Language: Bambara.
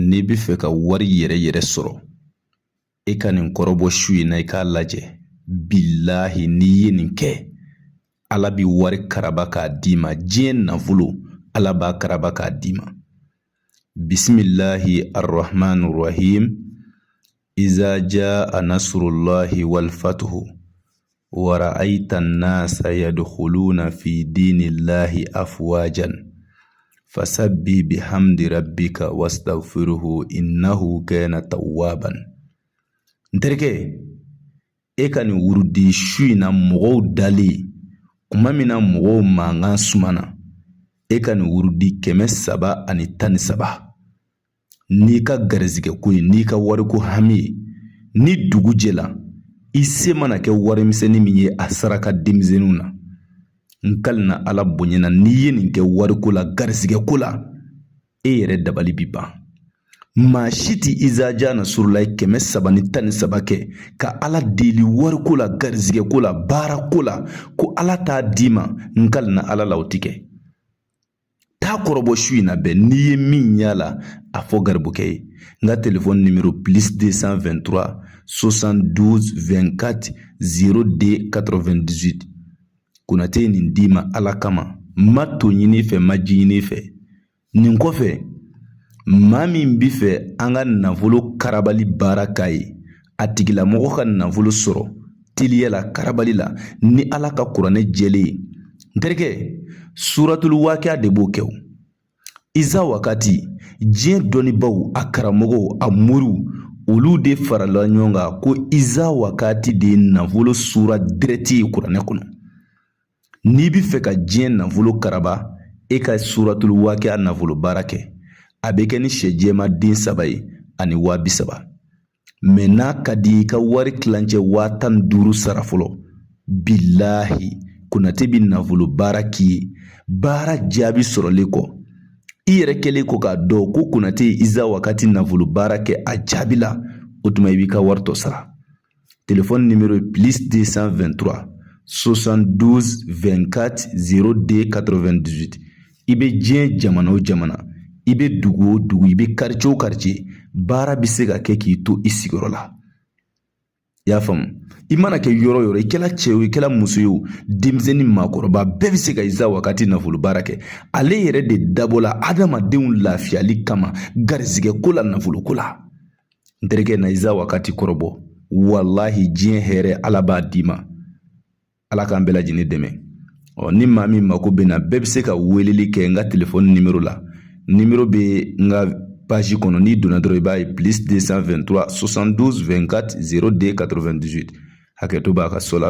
n'i bɛ fɛ ka wari yɛrɛ yɛrɛ sɔrɔ e ka nin kɔrɔbɔ su in na i k'a lajɛ bilahi n'i ye nin kɛ ala bi wari karaba k'a d'i ma diɲɛ nafolo ala b'a karaba k'a d'i ma bisimilahi arahman rahim Iza jaa nasurulahi walifatuhu wa ra'ayita nasa yaduhuluna fi dinilahi afuwajan fasabi bihamidi rabika wasitagifiruhu inahu kana tawaban n terikɛ e ka nin wurudi su in na mɔgɔw dali kuma min na mɔgɔw mankan sumana e ka nin wurudi kɛmɛ saba ani tan ni saba n'i ka garizigɛ ko ye n'i ka wariko hami ye ni dugu jɛla i se mana kɛ warimisɛnnin min ye a saraka denmisɛnninw na n kalina ala bonya na n'i ye nin kɛ wariko la garizigɛ ko la e yɛrɛ dabali bi ban maa si ti izaja nasurulayi kɛmɛ saba ni tan ni saba kɛ ka ala deli wariko la garizigɛ ko la baara ko la ko ala t'a d'i ma n kalina ala la o ti kɛ t'a kɔrɔbɔ su in na bɛn n'i ye min y'a la a fɔ garibukɛ ye n ka telefɔni nimero plis de san vɛntura sosan duzi vɛnkati zero de katɔrɔvɛndizit konate ye nin d'i ma ala kama n ma to ɲini fɛ n ma ji ɲini fɛ nin kɔfɛ maa min bi fɛ an ka nafolo karabali baara k'a ye a tigilamɔgɔ ka nafolo sɔrɔ teliya la karabali la ni ala ka kuranɛ jɛlen ye n terikɛ suratul wakiya de b'o kɛ o iza wakati diɲɛ dɔnnibaaw a karamɔgɔw a moriw olu de farala ɲɔgɔn kan ko iza wakati de ye nafolo sura dirɛti ye kuranɛ kɔnɔ n'i bɛ fɛ ka diɲɛ nafolo karaba e ka suratul wakiya nafolo baara kɛ a bɛ kɛ ni sɛ jɛma den saba ye ani waa bi saba mɛ n'a ka di i ka wari kilancɛ waa tan ni duuru sara fɔlɔ bilahi konate bɛ nafolo baara k'i ye baara jaabi sɔrɔlen kɔ i yɛrɛ kɛlen kɔ k'a dɔn ko konate ye iza wakati nafolo baara kɛ a jaabila o tuma i b'i ka wari tɔ sara telefɔni nimero ye plus 223 72 24 02 98 i bɛ diɲɛ jamana o jamana i bɛ dugu o dugu i bɛ karicɛ o karicɛ baara bɛ se ka kɛ k'i to i sigiyɔrɔ la i y'a faamu i mana kɛ yɔrɔ o yɔrɔ i kɛla cɛ o i kɛla muso ye o denmisɛnnin maakɔrɔba bɛɛ bɛ se ka iza wakati nafolo baara kɛ ale yɛrɛ de dabɔla adamadenw lafiyali kama garizigɛ ko la nafolo ko la n terikɛ na iza wakati kɔrɔbɔ walahi diɲɛ hɛrɛ ala b'a d'i ma ala k'an bɛɛ lajɛlen dɛmɛ ɔ ni maa min mako bɛ n na bɛɛ bɛ se ka weleli kɛ n ka telefɔni nimoro la nimoro bɛ n ka page kɔnɔ n'i donna dɔrɔn i b'a ye plus 223 72 24 02 98 hakɛto b'a kan so la